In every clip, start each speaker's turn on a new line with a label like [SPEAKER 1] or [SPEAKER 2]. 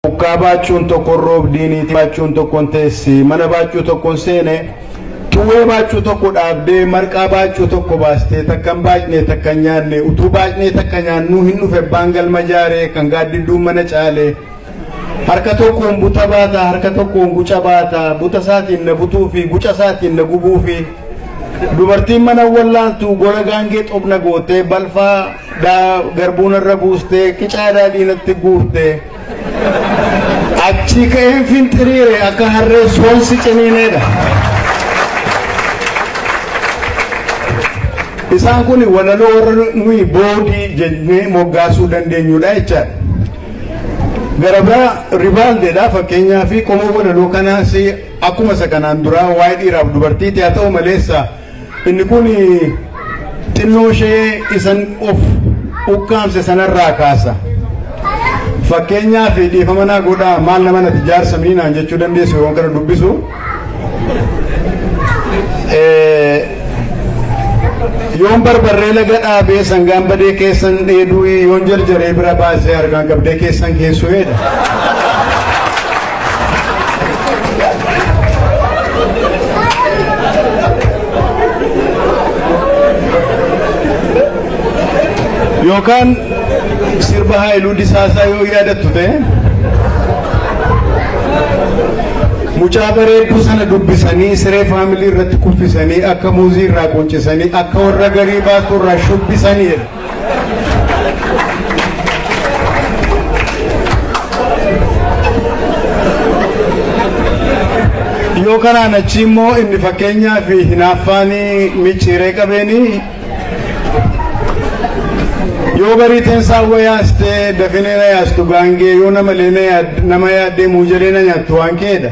[SPEAKER 1] Bukkaa baachuun tokkon roobdii niitii baachuun tokkon teessi mana baachuu tokkon seene xuwwee baachuu tokko dhaabdee marqaa baachuu tokko baastee takkan baacnee takkan nyaanne utuu baacnee takka nyaannuu hin dhufe abbaan galma jaaree kan gaaddidduun mana caale harka tokkoon buta baata harka tokkoon guca baata buta isaatiin na butuu fi guca isaatiin na gubuu fi dubartiin mana wallaaltu gola gaangee xobna gootee balfaa dhaa garbuu narra buustee qicaa daadhii natti guurtee achii ka'een finxiriire akka harree soonsi ciniineedha. Isaan kun walaloo warra nuyi boodii jennee moggaasuu dandeenyudha jechaadha. Gara biraa ribaaldeedha fakkeenyaa fi qomoo walaloo kanaas akkuma isa kanaan duraa waa'ee dhiiraaf dubartiiti haa ta'u maleessa Inni kun xinnoo ishee isan of ukkaamse sanarraa kaasa. Fakkeenyaaf dhiifama naa godhaa maal nama nati jaarsa mii naan jechuu dandeessu yeroon kana dubbisu. Yoon barbarree laga dhaabee sangaan badee keessan dheeduu yoon jarjaree bira baasee harkaan qabdee keessan keessuudha. yookaan sirba haayiluu disaasaa yoo yaadattu ta'e mucaa bareedduu sana dubbisanii siree faamilii irratti kuffisanii akka muuzii irraa quncisanii akka warra garii baasuu irraa shubbisanii jedha. yoo kanaan achi immoo inni fakkeenyaa fi hinaaffaan micciiree qabeeni yoo barii teensaa wa yaaste dafinee na yaastu gaangee yoo namalee na yaad- nama yaaddee muujalee na nyaattu waan keedha.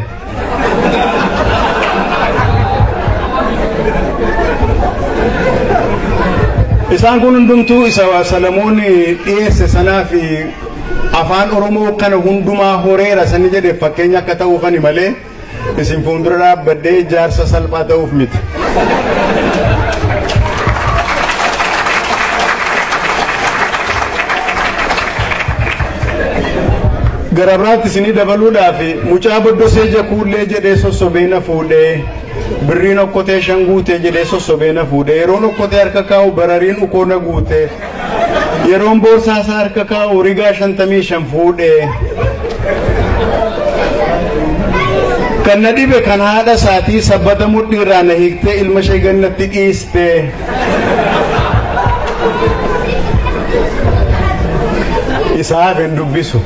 [SPEAKER 1] Isaan kun hundumtuu isa Salamoon dhiyeesse sanaa fi afaan Oromoo kana hundumaa horeera sani jedhe fakkeenya akka ta'uufani malee isin fuuldura dhaabbadhee jaarsa salphaa ta'uuf miti. Gara biraatti isinii dabaluudhaaf mucaa boddosee jakuullee jedhee sossobee na fuudhee birriin okkotee shan guutee jedhee sossobee na fuudhee yeroon okkotee harka kaa'u barariin ukoo na guutee yeroon boorsaa isaa harka kaa'u rigaa shantamii shan fuudhee kan na dhibe kan haadha isaatii sabbata mudhiirraa na hiiktee ilma ishee gannatti dhiistee. isaa hafe hin dubbisu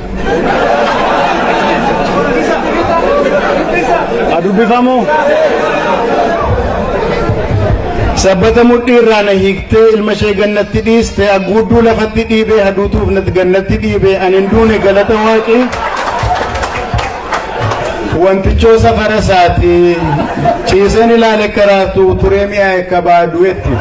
[SPEAKER 1] a dubbifamu sabbata mudhii irraa na hiiktee ilma ishee gannatti dhiiste agguudduu lafatti dhiibee haduutuuf nat gannatti dhiibee an hin duune galata waaqii Wantichoo safara isaati ciiseen ilaale karaatu turee mi'aa akka baadu'etti.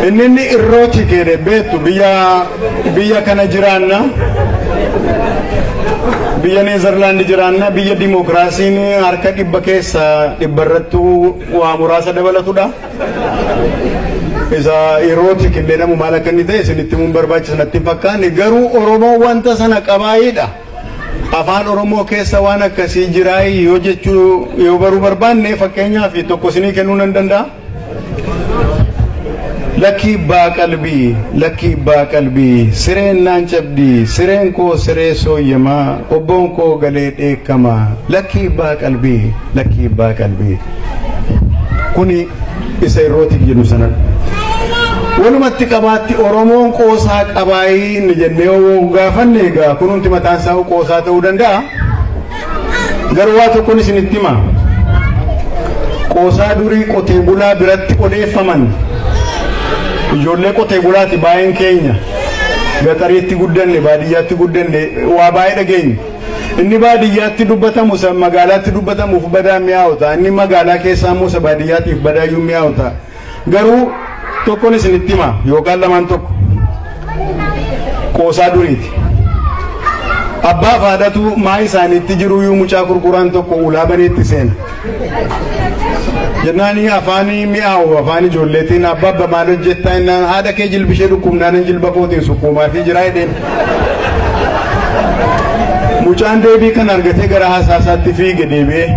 [SPEAKER 1] Inni inni irroo chikeedhe beektu biyya Biyya kana jiraanna. Biyya Neezerlaandi jiraanna. Biyya dimookiraasiin harka dhibba keessa dhibba irrattuu waa muraasa dabalatudha. Isa yerootti qindeedhamu maal akka inni ta'e isinitti himuun barbaachisa natti hin fakkaanne garuu Oromoon wanta sana qabaayidha. Afaan Oromoo keessa waan akkasii jiraayii yoo jechuu yoo baruu barbaanne fakkeenyaaf tokko isinii kennuu nan danda'a. Lakkii ibbaa qalbii lakkii ibbaa qalbii sireen naan cabdii sireen koo siree sooyyamaa qobboon koo galee dheekkama lakkii ibbaa qalbii lakkii ibbaa qalbii kuni isa irrootiif jedhu sanadha. Walumatti qabaatti Oromoon qoosaa qabaayii inni jennee yoo gaafanne egaa kunumti mataan isaa qoosaa ta'uu danda'a. Garuu waa tokkon isinitti hima. Qoosaa durii qotee bulaa biratti odeeffaman ijoollee qotee bulaati baay'een keenya gaxariitti guddanne baadiyyaatti guddanne waa baay'ee dhageenye. Inni baadiyyaatti dubbatamu isa magaalaatti dubbatamuuf badaa mi'aawu ta'a. Inni magaalaa keessaa immoo isa baadiyyaatiif badaayyuu mi'aawu ta'a. Garuu tokkon isinitti hima yookaan lamaan tokko qoosaa duriiti. Abbaa fi haadhatu maa isaaniitti jiruyyuu mucaa kurkuraan tokko ulaa baneetti seena. Jennaani afaanii mi'aawu afaan ijoolleetiin abbaa abba maal hojjettaa innaan haadha kee jilbishee dhukkubnaanan jilba kootiin sukkuumaa fi jiraa jedheen. Mucaan deebii kan argatee gara haasaasaatti fiige deebi'ee.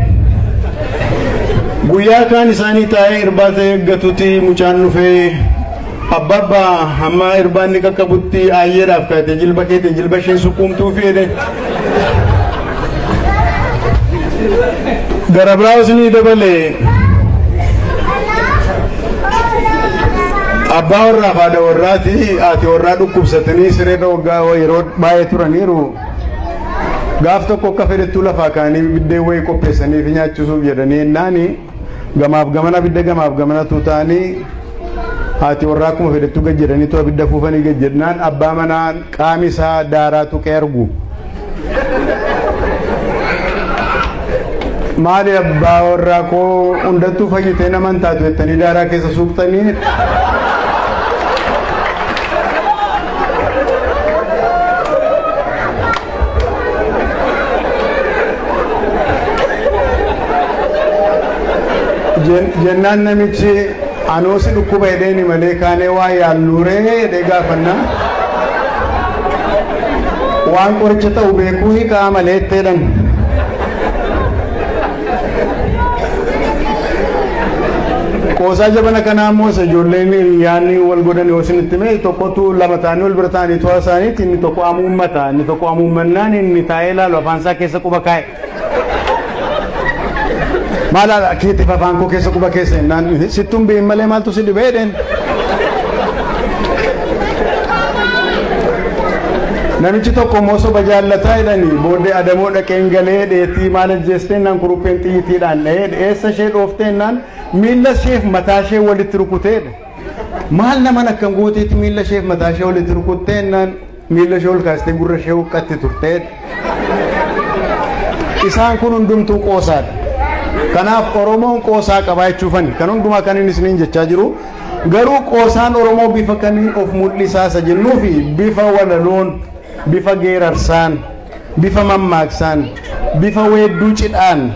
[SPEAKER 1] Guyyaa kaan isaanii taa'ee irbaata eeggatuti mucaan dhufee abbaabba hamma irbaanni qaqqabutti aayyeedhaaf kaatee jilba keetiin jilba isheen sukkuumtuu fiide. Gara biraas ni dabale. Abbaa warraaf haadha warraati haati warraa dhukkubsatanii sireerra waggaa yeroo baay'ee turaniiru. gaaf tokko akka fedhettuu lafaa kaanii biddeen wayii qopheessanii fi nyaachisuuf jedhanii yennaani gamaaf gamana abidda gamaaf gamana tuutaanii haati warraa akkuma fedhettuu gad jedhanii too abidda fuufanii gad jedhnaan abbaa manaa qaami isaa daaraa tuqee argu. Maali abbaa warraa koo hundattuu fayyitee nama hin taatu jettanii daaraa keessa suuqtanii. Jen- jennaan namichi anuu si dhukkuba jedheeni malee kaanee waa yaalluuree jedhee gaafanna waan qoricha ta'u beekuu hiikaa malee itti jedhan Qoosaa jabana kanaa immoo isa ijoolleen yaanni wal godhan yoo isinitti hime tokkotu lama ta'anii wal bira ta'anii to'a isaaniitti inni tokko amuummata inni tokko amuummannaan inni taa'ee ilaalu afaan isaa keessa quba kaa'e. Maal haala keetiif afaan koo keessa quba keessa jennaan sittuun bi'in malee maaltu si dhibee jedheen. Namichi tokko immoo soba jaallataa jedhanii booddee adamoo dhaqeen galee dheetii maal ajjeesteennaan kurupheen xiyyiitiidhaan dha'ee dheessa ishee dhoofteennaan miilla isheef mataa ishee walitti rukuteedha. Maal naman akkan gooteetti miilla isheef mataa ishee walitti rukutteennaan miilla ishee ol kaastee gurra ishee huqqatti turteedha. Isaan kun hundumtuu qoosaadha. Kanaaf Oromoon qoosaa qabaa jechuufani. Kan hundumaa kan inni isiniin jechaa jiru Garuu qoosaan Oromoo bifa kamiin of mul'isaa isa jennuufi bifa walaloon, bifa geerarsaan, bifa mammaaksaan, bifa weedduu cidhaan,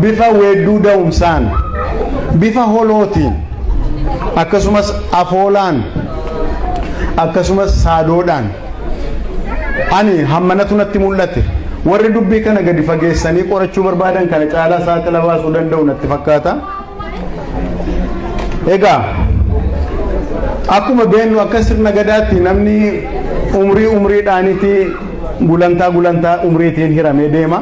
[SPEAKER 1] bifa weedduu da'umsaan, bifa holootiin, akkasumas afoolaan, akkasumas saadoodhaan ani hammanatu natti mul'ate. Warri dubbii kana gadi fageessanii qorachuu barbaadan kana caalaa saaxila baasuu danda'u natti fakkaata. Egaa akkuma beennu akka sirna gadaatti namni umrii umriidhaanitti gulantaa gulantaa umriitiin hiramee deema.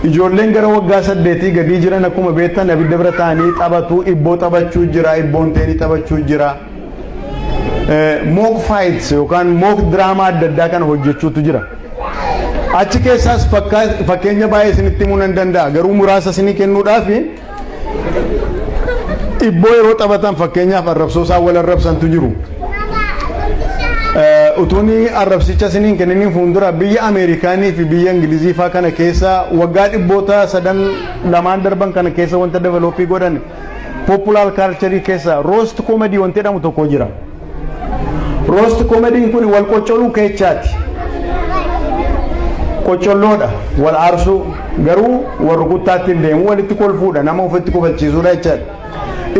[SPEAKER 1] Ijoolleen gara waggaa saddeetii gadii jiran akkuma beektan abidda bira taa'anii taphatu, ibboo taphachuu jira, ibboon teenii taphachuu jira. Mook faayits yookaan mook diraamaa adda addaa kana hojjechuutu jira. Achi keessaas fakkeenya baay'ee isinitti himuu nan danda'a garuu muraasa isinii kennuudhaaf dhibboo yeroo taphatan fakkeenyaaf arrabsoo isaan wal arrabsantu jiru. Utuun arrabsicha isiniin kenniniin fuuldura biyya Ameerikaanii fi biyya Ingilizii faa kana keessa waggaa dhibboota sadan lamaan darban kana keessa wanta developii godhan populaar kaalcharii keessa roost koomadii wanti jedhamu tokko jira. Roost komediin kun wal qoccoluu keechaati. Qoccolloodha wal aarsuu garuu wal rukuttaatti hin deemu walitti kolfuudha nama ofitti kofalchiisuudha jechaadha.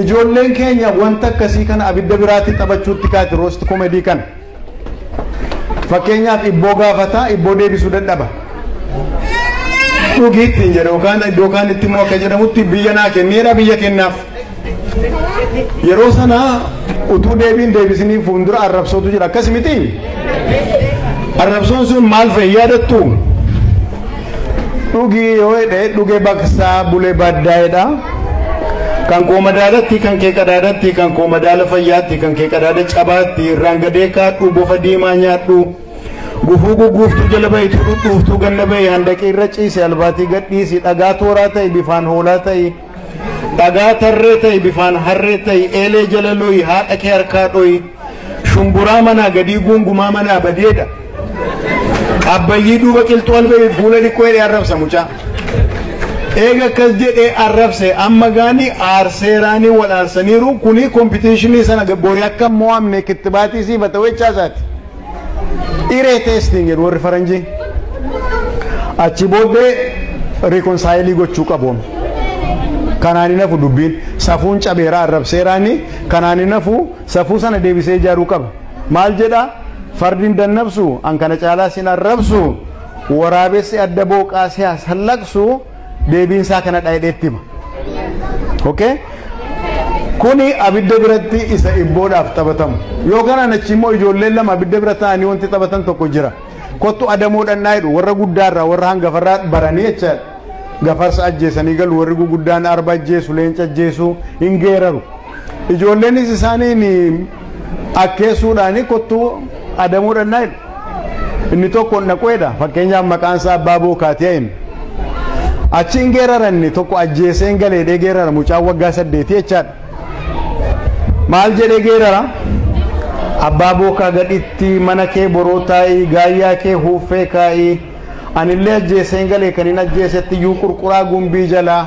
[SPEAKER 1] Ijoolleen keenya wanta akkasii kana abidda biraatti taphachuutti kaati roost komedii kana. Fakkeenyaaf ibboo gaafataa ibboo deebisuu dadhaba. Dhugiitti hin jedhu yookaan iddoo kaanitti immoo akka jedhamutti biyya naa kenneedha biyya kennaaf. Yeroo sana utuu deebiin deebisiniif fuuldura arrabsootu jira akkas miti? Arrabsoon sun maal fa'i yaadattu? Dhugii yoo jedhe dhugee baqsaa bulee baaddaa'edha. Kan koo madaalatti, kan kee qadaadatti, kan koo madaala fayyaatti, kan kee qadaada cabaatti, irraan gadee kaadhu, bofa diimaa nyaadhu. Gufuu gugguuftuu jala ba'itu dhudhuuftuu ganna ba'e handaqii irra ciise albaatii gadhiisi dhagaa tooraa ta'e bifaan hoolaa ta'e. Dhagaa tarree ta'i bifaan harree ta'i eelee jala lo'i haadha kee harkaa dho'i shumburaa manaa gadii guungumaa manaa badeedha abbayyii duuba qilxuu albeebi fuula dhiqqoo jedhee arrabsa mucaa eega akkas jedhee arrabse amma gaani aarseeraanii wal aarsaniiru kuni kompitiishinii sana boori akka mo'amne kittibaatii siifata wechaasaati. Iree testing jedhu warri faranjii. Achi booddee reconcile gochuu qabu. Kanaan hin hafu dubbiin safuun cabeeraa arrabseeraani kanaan hin hafu safuu sana deebisee ijaaruu qaba. Maal jedha fardi hin dannabsu an kana caalaa sin arrabsu waraabessi adda booqaa siyaas hallaqsu. deebiin isaa kanadha jedhee itti hima. Okay? Kuni abidda biratti isa ibboodhaaf taphatamu. Yoo kanaan achi immoo ijoolleen lama abidda bira taa'anii wanti taphatan tokko jira. Kottu adamoo dhannaa jedhu warra guddaarraa warra hangafarraa baranii jecha gafarsa ajjeesanii galu warri guguddaan arba ajjeesu leenca ajjeesu hin geeraru. Ijoolleenis isaaniin akkeessuudhaani kottuu adamoo dhannaa jedhu. Inni tokko hin dhaquedha. Fakkeenyaaf maqaan isaa abbaa bookaatiyaa inni. Achi hin geerara inni tokko ajjeesee hin galeedhee geerara mucaan waggaa saddeetii jechaadha. Maal jedhee geerara? Abbaa bookaa gadhitti mana kee boroo taa'ii gaayyaa kee huuffee kaa'ii. Anillee ajjeeseen galee kanin ajjeesetti iyyuu qurquraa gumbii jalaa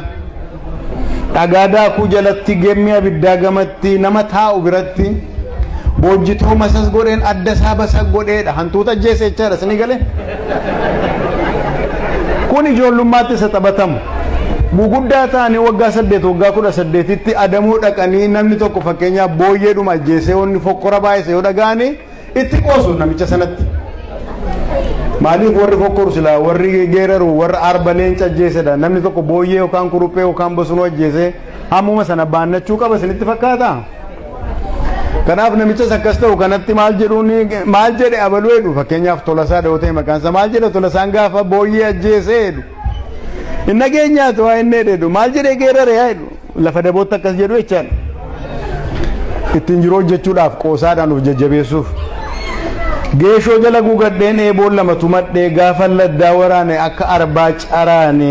[SPEAKER 1] dhagaa daakuu jalatti gemmii abiddaa gamatti nama taa'u biratti boojjitoo masas godheen adda isaa basaq godheedha hantuuta ajjeese jechaadha isinii galee kun ijoollummaatti isa taphatamu guguddaa ta'anii waggaa saddeet waggaa kudha saddeetitti adamoo dhaqanii namni tokko fakkeenyaaf booyyeedhuma ajjeesee wanni fokkora baay'ise yoo dhaga'anii Itti qoosu namicha sanatti. Maaliif warri fokkoru silaa warri geeraru warra arba leenca ajjeesedha namni tokko booyyee yookaan kuruphee yookaan bosonuu ajjeesee hammuma sana baannachuu qaba isinitti fakkaata. Kanaaf namichas akkas ta'u kanatti maal jedhuun maal jedhe abaluu jedhu fakkeenyaaf tolasaa dha'oo ta'e maqaan isaa maal jedhe tolasaan gaafa booyyee ajjeesee jedhu. Hin dhageenyaatu waa inni jedhu maal jedhee geerare yaa jedhu. Lafa dabootti akkas jedhu jechaan ittiin jiru hojjechuudhaaf qoosaadhaan of jajjabeessuuf geeshoo jala guugadheen eeboon lama tumadhee gaafa laddaa waraane akka arbaa caraane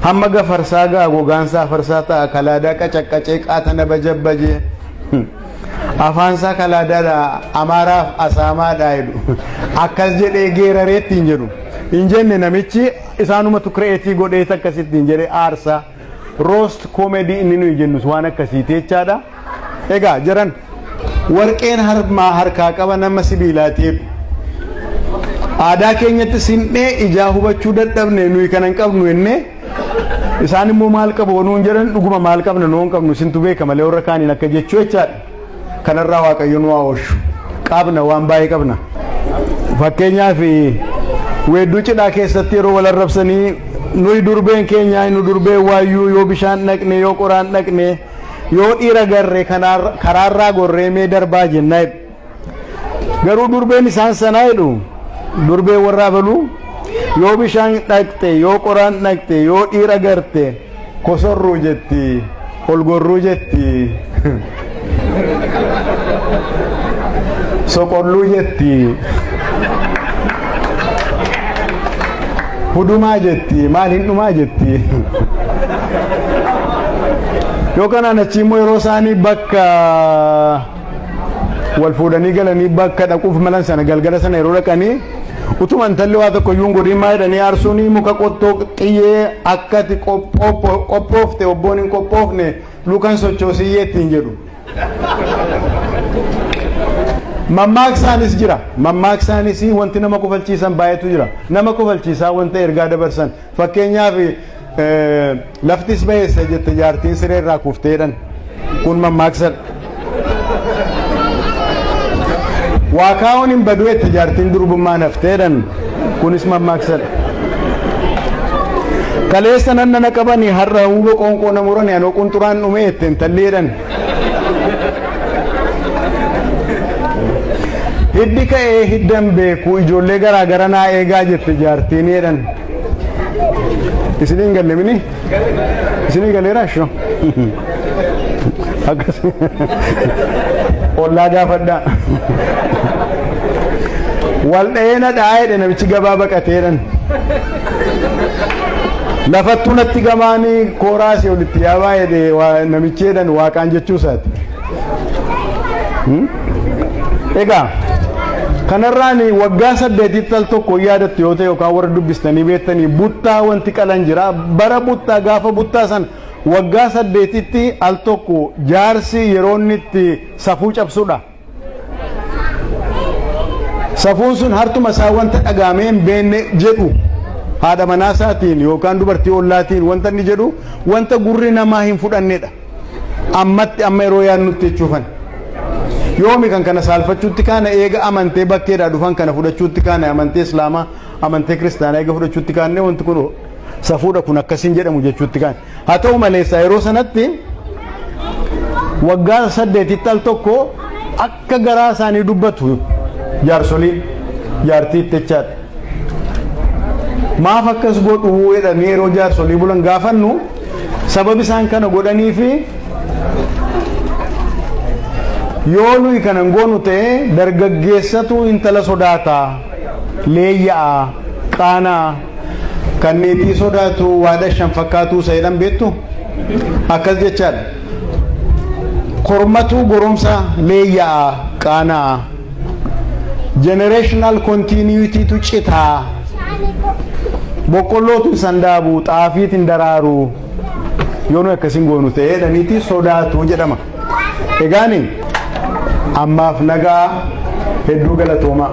[SPEAKER 1] hamma gafarsaa ga'a gogaansaa farsaa ta'a kalaadaa qacaqqacee qaatana bajabbaje afaansaa kalaadaadha amaaraaf asaamaadha jedhu akkas jedhee geeraree ittiin jedhu hin jenne namichi isaanumatu kireetii godhee akkasittiin jedhee aarsaa. Roast comedy inni nuyi jennus waan akkasiiti jechaadha. Egaa jaran warqeen harmaa harkaa qaba nama sibiilaati jedhu. Aadaa keenyatti sin'ee ijaa hubachuu dadhabne nuyi kana hin qabnu jennee isaan immoo maal qabu nuun jedhan dhuguma maal qabna nuun qabnu isintu beeka malee warra kaaniin akka jechuu jechaadha. Kanarraa Waaqayyo nu haa oolchu. Qabna waan baay'ee qabna. Fakkeenyaaf weedduu cidhaa keessatti yeroo wal arrabsanii nuyi durbeen keenya nu durbee waayyuu yoo bishaan dhaqne yoo qoraan dhaqne yoo dhiira garre kanaar- karaarraa gorree mee darbaa jennaa jedhu. Garuu durbeen isaan sanaa jedhu durbee warraa baluu yoo bishaan dhaqxe yoo qoraan dhaqxe yoo dhiira garte Kosorruu jetti, ol gorruu jetti, soqolluu jetti, hudumaa jetti, maal hin dhumaa jetti. Yoo kanaan achi immoo yeroo isaanii bakka wal fuudhanii galanii bakka dhaquuf malan sana galgala sana yeroo dhaqanii utuma intalli waa tokko iyyuu hin godhin maa jedhanii aarsuun muka qottoo xiyyee akka ati qophoo- qophoofte obboon hin qophoofne lukan sochoosiyyee ittiin jedhu. Mammaaksaanis jira. Mammaaksaanis wanti nama kofalchiisan baay'eetu jira. Nama kofalchiisaa wanta ergaa dabarsan. Fakkeenyaaf Laftis baheessa jette jaartiin siree irraa kufteedhan. Kun mammaaksadha. Waa kaa'uun hin badu jette jaartiin durbummaa nafteedhan. Kunis mammaaksadha. Kaleessa nan nana qabani har'a huuba qoonqoo na murani anoo qunxuraan dhume jette intalleedhan. Hiddi ka'ee hiddan beeku ijoollee garaa gara naa eegaa jette jaartiineedhan. Isiniin galle mini? Isinii galeera shoo? Akkas. Ollaa gaafadhaa. Wal dha'ee na dhaa'eedha namichi gabaa baqateedhan. Lafattuu natti gamaanii kooraasii olitti yaa baay'ee namicheedhan waaqaan jechuu isaati. Egaa kanarraan waggaa saddeetitti al tokko yaadattu yoo ta'e yookaan warra dubbistanii beektanii buttaa wanti qalan jira. Bara buttaa gaafa buttaa san waggaa saddeetitti al tokko jaarsi yeroo inni itti safuu cabsudha. Safuun sun hartuma isaa wanta dhagaamee hin beekne jedhu haadha manaa isaatiin yookaan dubartii ollaatiin wanta inni jedhu wanta gurri namaa hin fudhannedha. ammatti amma yeroo yaadnutti jechuufan yoomi kan kana saalfachuutti kaana eega amantee bakkeedhaa dhufan kana fudhachuutti kaana amantee islaamaa amantee kiristaanaa eega fudhachuutti kaanne wanti kun safuudha kun akkasiin jedhamu jechuutti kaane haa ta'u maleessaa yeroo sanatti waggaa saddeetitti al tokko Akka garaa isaanii dubbatu jaarsoliin jaartii itti echaadha. Maaf akkas godhuu jedhanii yeroo jaarsolii bulan gaafannu sababi isaan kana godhanii fi yoo nuyi kana hin goonu ta'e dargaggeessatu intala sodaata leeyya'a qaanaa Kan meetii sodaatu waada shan fakkaatuu isa jedhan beektu akkas jechaadha. Kormatuu goromsa leeyya'a qaana'a. Generational continuity tu citaa. Boqqollootu hin sandaabu, xaafiit hin daraaru. Yoo nu akkasiin goonu ta'ee jedhaniiti sodaatu jedhama. Egaani ammaaf nagaa hedduu galatoomaa.